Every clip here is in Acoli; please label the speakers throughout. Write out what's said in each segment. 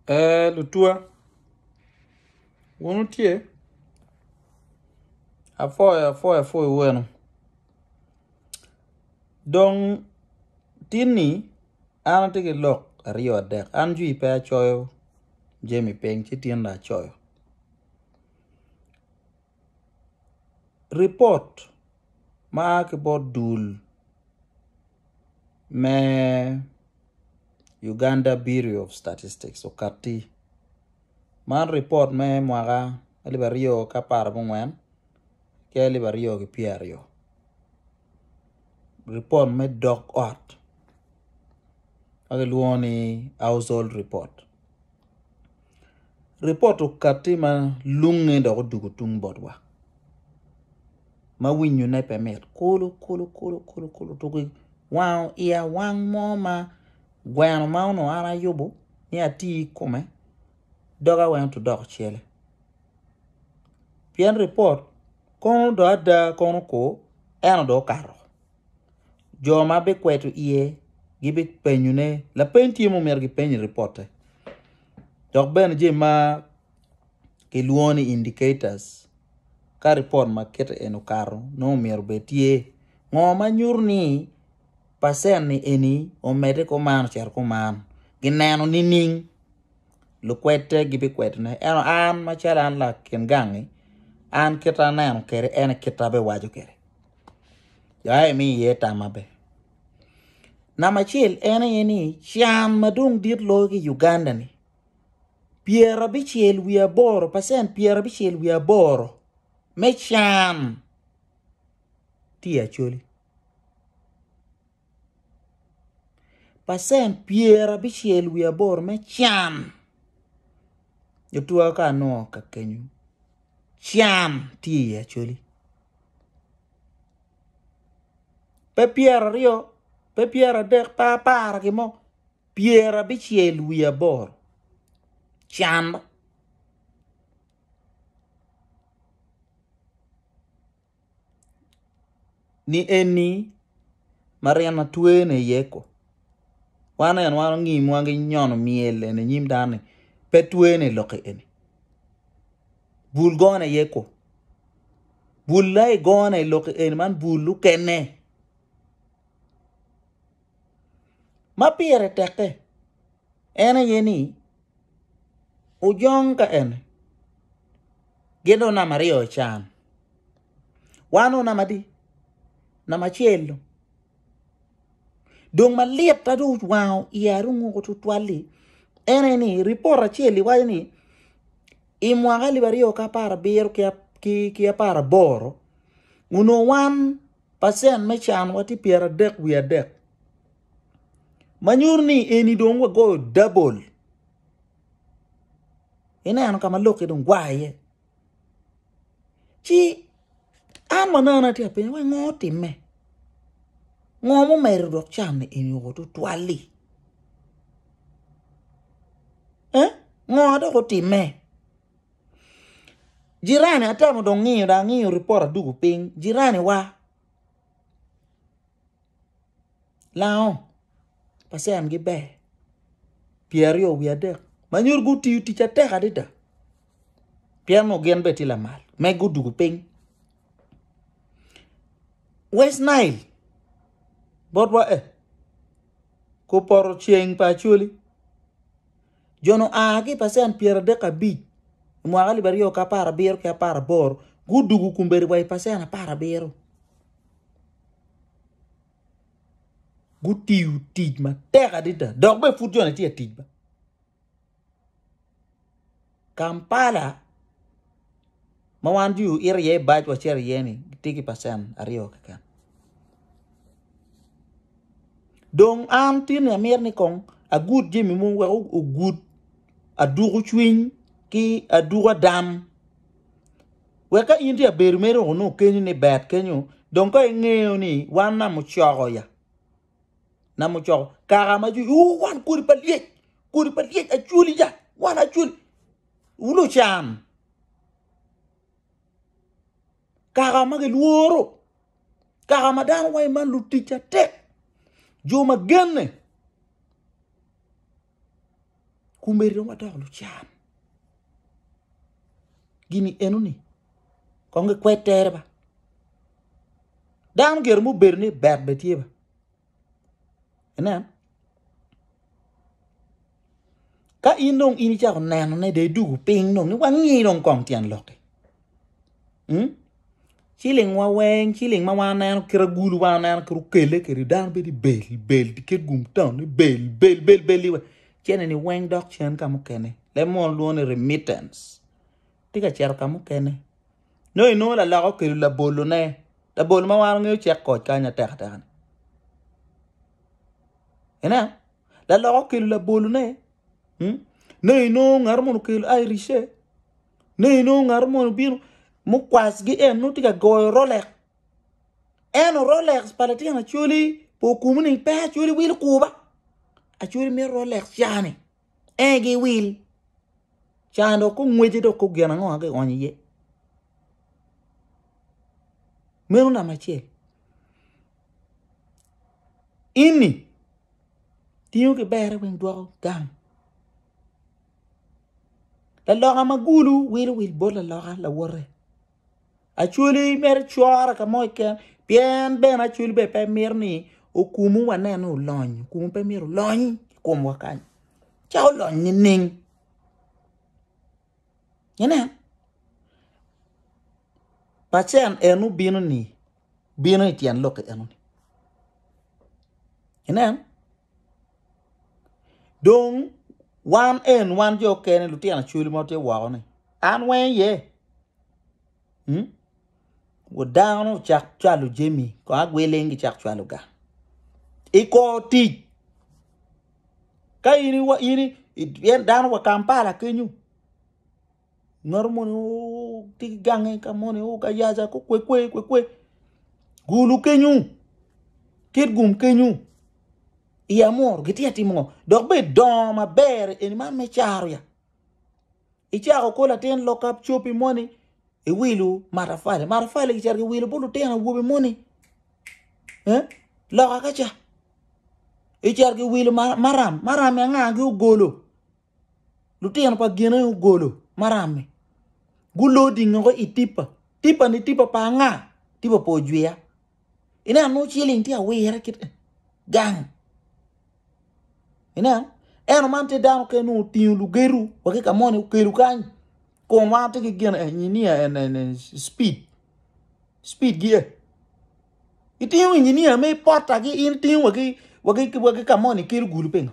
Speaker 1: Ee lutwa, wun wutye apoyo apoya pud iweno. Dong tinni an atye ki lok aryo adek, an jwi pe acoyo jami piny ci tinni acoyo. ripot ma a ki bot dul me Uganda Bureau of Statistics okatti, man ripot me mwaka alip aryo ki apar ki ongwen ki alip aryo ki pyero aryo ripot me dog ot ma kilwongo ni household report. Ripot okatti ma lunge dok odugo tung botwa ma winyone pe mit kulu kulu kulu kulu kulu tuki wango iya wang mo ma gweno ma onongo an ayubo ni ati kome doga weng to dok cele pien ripot kono do ada kono ko eno do okato. jo ma bikweto iye gibipenyone lapeny tye ma omyero gipeny i ripotte dok bene jami ma kilwongo ni indicators ka ripot ma kite eni okato nongo myero bed tye ngo ma nyuto ni pacen-ni eni omedde kuman ocito kuman gineno nining? lukwede gibikwedone. Ento an macalo an lakin gangi, an kita aneno kede en e kita abiwaco kede. Ya imi iye tam maber. Namba acel en aye ni can madong dit loyo ki Uganda ni pyera bicel wi aboro percent pyera bicel wi aboro me can tye acholi. pacent pyer abicel wiye aboro me can gitwero ka nongo ka kenyo can tye iye actually pe pyer aryo pe pyer adek pe apar ki mo pyer abicel wiye aboro can ni eni ma ryeny ma twene iye ko wan eni wan onyimwa ki nyono myel eni inyim dano ni pe twene i lokke eni bul gone iye ko bul ma i gone i lokke eni man bul mukene ma pire teke en aye ni Ojong ka en. Gin dong namba aryo can. Wan o namba adi? Namba acel dong. Dong malit ma dong owango iya Arunguko tutwal-li en aye ni ripot acel-li waco ni i mwaka alip aryo ki apar abiro ki apar aboro onongo wan pacen me can watye pyera dek wiye adek. ma nyuto ni eni dong wagoyo dabol ineno ka ma lokke dong gwa iye ci an manana atye ka penyo ni ngo otimme ngo mumedo dok can eni oo tutwal-li eh ngo dok otimme jirani atemo dong ngiyo dong angiyo ripot aduku piny jiraniwa lango pa cen gi ber pyer aryo wiye adek ma nyuto gutiyo tic atek adada pien onongo gin bene tye lamal me gudwogo piny West Nile bot wa eh ko poto ceng pa Acholi jo-ni oa ki i pacen pyer adek ki abic i mwaka alip aryo ki apar abiro ki apar aboro gudwogo kombeddi wa i pacen apar abiro. Gutiyo tic matek adada dok bene pud joni tye ka tic. Kampala ma wan dong waito iye bac wacito iye-ni tye ki pacen aryo keken dong an tin amyero ni kong agud jami mogo wek ogud adwoko cwiny ki adwoko adam. Wek ka in tye ka bedo mere wek onongo kenyi ni bad kenyo dong ka ingeyo ni wan namucoko ya namucoko kaka ma jwi uu wan kodi pa lyec kodi pa lyec acwali ya wan acwali wu lucan kaka ma gilworo kaka ma dano waci man lutic atek jo ma genne Kumeri dong wadoko lucan. Gini enoni kong gikwed tere ba. Dano gire mubedo ni bet be tye ba. Enen. Ka in dong in icako nenone de idugu piny dong ni wangi dong kong tyen lokke. Hmm? Ciling wa weng, ciling ma wan neno kit agulu wan neno kit okele kiri dano bedi bel bel diket gum town ni bel bel bel bel iwe. Cene ni weng dok cen ka mukene. Le mon luo ni remittance. Tika cero ka mukene. No ino la loko kelu la bolo ne. La bolo ma wan ngeyo cek koc kanya teka teka ni. Ina? La loko kelu la bolo ne. Hmm? No ino ngaro mono kelu Irish e. Nongo inongo ngat mo obino mukwacgi en nongo tye ka goyo Rolex. Eno Rolex pa litino Acholi pe okumo ni pe Acholi wilo kuba. Acholi mito Rolex cani en aye giwil. Cani dong kong ngwece dong kong gin ango ma kionyo iye. Meno namba acel. Ini tingo ki berre weng dwoko gang. Laloka ma gulu wilo wil bot laloka lawote. Acwali meri cwore ka mo keken pien bene acwali bene pe mito ni okumu wanen ni olony, okumu pe myero olony i komwa kany ci olony nining? Inen pacen en obino ni bino i tyen lok eno ni inen Dong wan en wan jo kene lutino acholi ma watye woko ni an weng iye mm dano ocak cwalo jami kong agweleng gicak cwalo ga ikor tic ka in dano wa Kampala kenyo. Ngat moni tye ki gange ka moni ka yaca ko kwe kwe kwe kwe gulu kenyu kit gum kenyu i amor gitye atimo ngo dok be dongo maber eni man me caro ya icako ko latin lokap copi moni iwilo matafali matafali kiceto kiwilo bot lutino awobe moni loka kaca iceto kiwilo maram marami anga gi ogolo lutino pa gine ogolo maram-mi gulor dingogi i tipa, tipa-ni tipa pa anga? Tipa pa ojwiya. Ineno nongo ciling tye awire kit eni gang. Ineno eno man tye dano kene nongo otingo lugedo wa ki ka moni okelo kany kun wan watye ki gin engineer cipid cipidgi e itingo engineer me potagi in itingo wa ki ka moni ikelo gulu pingo?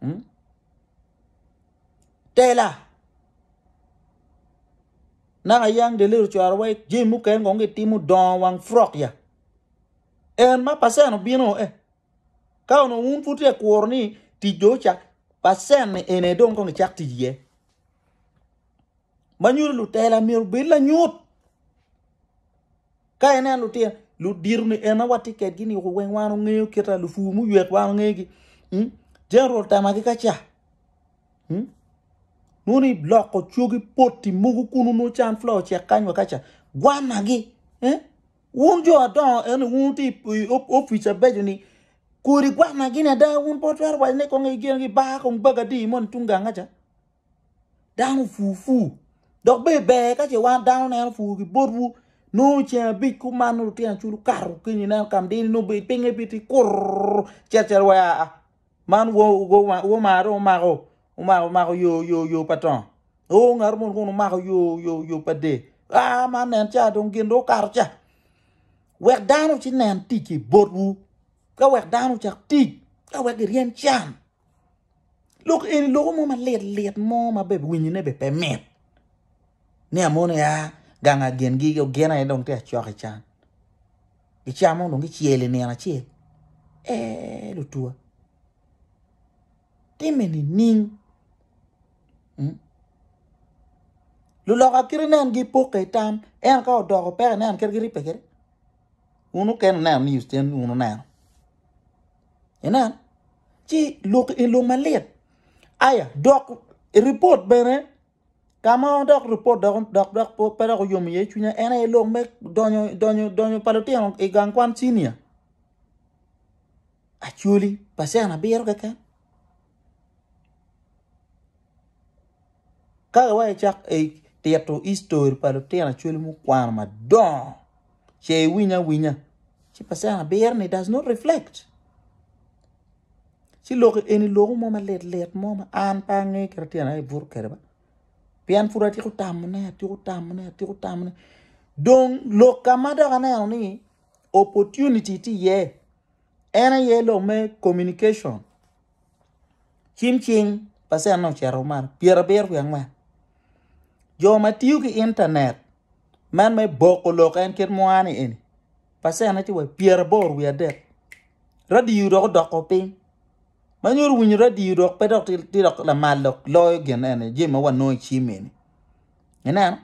Speaker 1: hmm? tela naka yang de little cwara wai jami mukene kong gitimo dongo wang frok ya en ma pasen obino eh ka ono un pud tye kuro ni tic do cak pasen ni ene dong kong icak tic ye ma nyuto lutela myero bed lanyut Ka ineno lutino, ludito ni en awa tye kedgi ni weng wan ongeyo kita lupur muyet wan ongegi. Hmm? General tamagi ka ca. Hmm? Nuni loko cwogi poti mogo kunu no can flower cek kanywa ka ca. Gwanagi. Eh? Wun jo adongo eni wun ti office abejo ni kodi gwanagi ni ada wun po twero wajo ni kongi gengi ba kong baga di moni tungang ka ca. Dano pur pur. Dok ber ber ka ce wan dano neno pur ki botwu. Nongo ceng abic ku man nongo lutino aculo kato kiny ineno kam dini nongo ber pinge pi ti kurr cet cet wa a man wo ma dong omako omako omako yo yo yo pa tongo. Nongo ngato moni kong omako yo yo yo pa de a man nen ca dong gin dong okato ca. Wek dano ci nen tic ki botwu. Ka wek dano cak tic. Ka wek giryem can. Lok eni loko mo malit lit mo ma bene winyi ne bene pe mit ni amoni a gang a gin gi gin aye dong tye ka cok ican gicamo dong gicel i nino acel eeh lutuwa time nining luloka kit inen gi poke itam ento ka odoko peke inen kit giripe kede wun mukene wuneno news tyen wun wuneno Inen, ci lok i lum malit. Aya, dok ripot bene, ka ma dok ripot dok, dok, dok pe dok oyom iye cwinya, en aye lok me donyo, donyo, donyo pa lutino i gang kwan cinia. Actually, pacen abiro keken. Ka iweko icak tito history pa lutino Acholi mukwano madongo ce iwiny awinya ci percent abiro ni does not reflect. Ci lok eni lok mo ma lit lit mo ma an pe ange kit ma tyena aye buto kwede ba pien pud atyeko tamo ne atyeko tamo ne atyeko tamo ne dong lok ka ma dok aneno ni opportunity tye iye en aye lok me communication. cim cing pacenne ocito malo pyerabiro wiye angwen jo ma tiyo ki intanet man me boko lok en kit mo ni eni pacenne tye wa i pyeraboro wiye adek radio dok odoko piny ma nyuto winyo radio dok pe dok tye lamal dok loyo gin eni jami ma wanongo i cim eni ineno.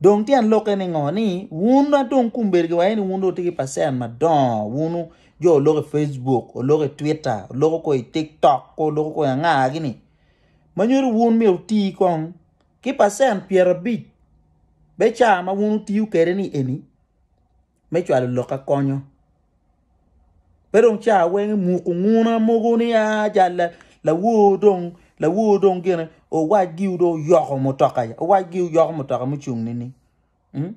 Speaker 1: Dong tyen lokke ni ngo ni wun ma dong kumber gi waye ni wun dong wutye ki percent madongo wun jo oloko i Facebook, oloko i Twitter, oloko ko i TikTok, ko oloko ko i anga gi ni. Ma nyuto wun myero uti kong ki percent pyerabic be ca ma wun utiyo kwede ni eni. me cwalo lok akonyo. Pe dong ca weng imuko nguna mogo ni a ca lawor dong lawor dong gine owac giwu dong oyoko mutoka owac giwu yoko mutoka mucung nini. Hmm?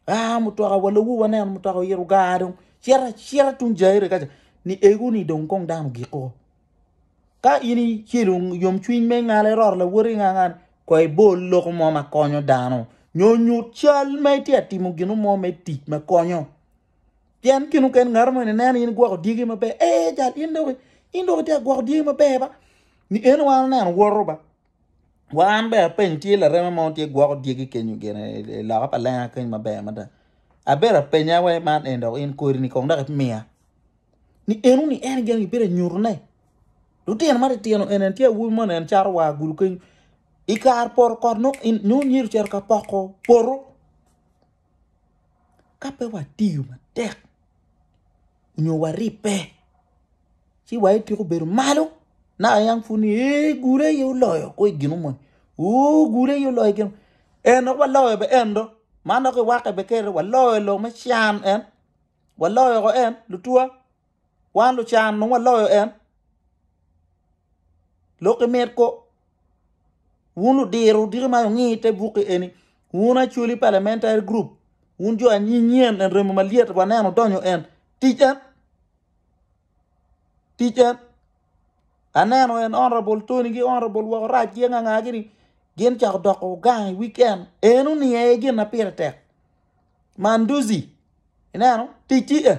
Speaker 1: Ah mutoka wa lawu waneno mutoka oyito gar dong. Cita cita tung jaire kaca ni egu ni dong kong dano giko. Ka in icelo yomcwiny me ngala iroro lawoti ingangani kong ibol loko mo ma konyo dano nyo nyut cal ma itye ka timo gino mo me tic ma konyo pien gin mukene ngat mo eni neno in igwoko dyegi maber ee jal in dong itye ka gwoko dyegi maber ba ni en weng oneno woto ba Wa an bene apeny tye lareme mo tye gwoko dyegi kenyo gine i loka pa lenga keny maber mada. Abedo apenya wa man en dok in kodi ni kong dok imiya. Ni enu ni en gin gibedo nyuto ne. Lutino ma titino en en tye awobi mo en caro wa gulu keny. I kar poro kot no in nyo nyiro cero ka poko poro. ka pe watiyo matek nyo waribbe ci wa itweko bedo malo naka yam pud ni ee gure aye oloyo kwo i ginu moni oo gure aye oloyo i ginu moni en dok waloyo bene en do man dok iwakke bene kene waloyo i lok me can en waloyo woko en lutwa Wan lucan nongo waloyo en. Lok ki mit ko. Wun ludiro diki ma wungi te buki eni. Wun Acholi Parliamentary Group. Wun jo anyinyen en remo malyet waneno donyo en. Tic en. Tic en. Aneno en Honorable Tony gi Honorable Woko Rac gi anga anga gini gin cako doko gang i weekend. En uni aye gin na pire tek. Manduzi. Ineno? Tic ti en.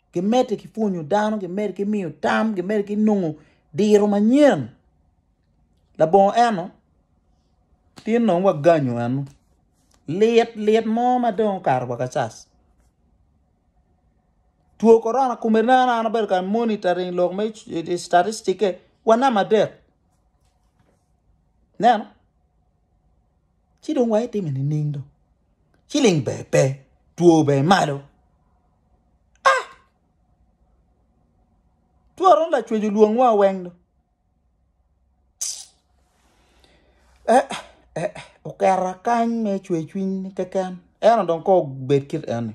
Speaker 1: gimedde ki pwonyo dano, gimedde ki miyo tam, gimedde ki nongo diro manyen. Labongo eno tye nongo waganyo eno lit lit mo ma dong okato wa kacas. Two korona kome ne an abedo ka monitoring lok me citatistikke wa namba adek ineno ci dong wa itime nining dong? Ciling ber pe, two ber malo. Twara onongo lacweco lwongwa weng do. Okera kany me cwer cwiny keken ento dong kong obed kit eni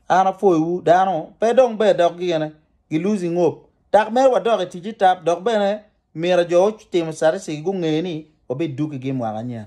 Speaker 1: an apwoyowu dano pe dong ber dok gine gi losing hope dok mere wadok i ticce tap dok bene myero jo gutimo statistic gunge ni wabidogigi mwaka nyen.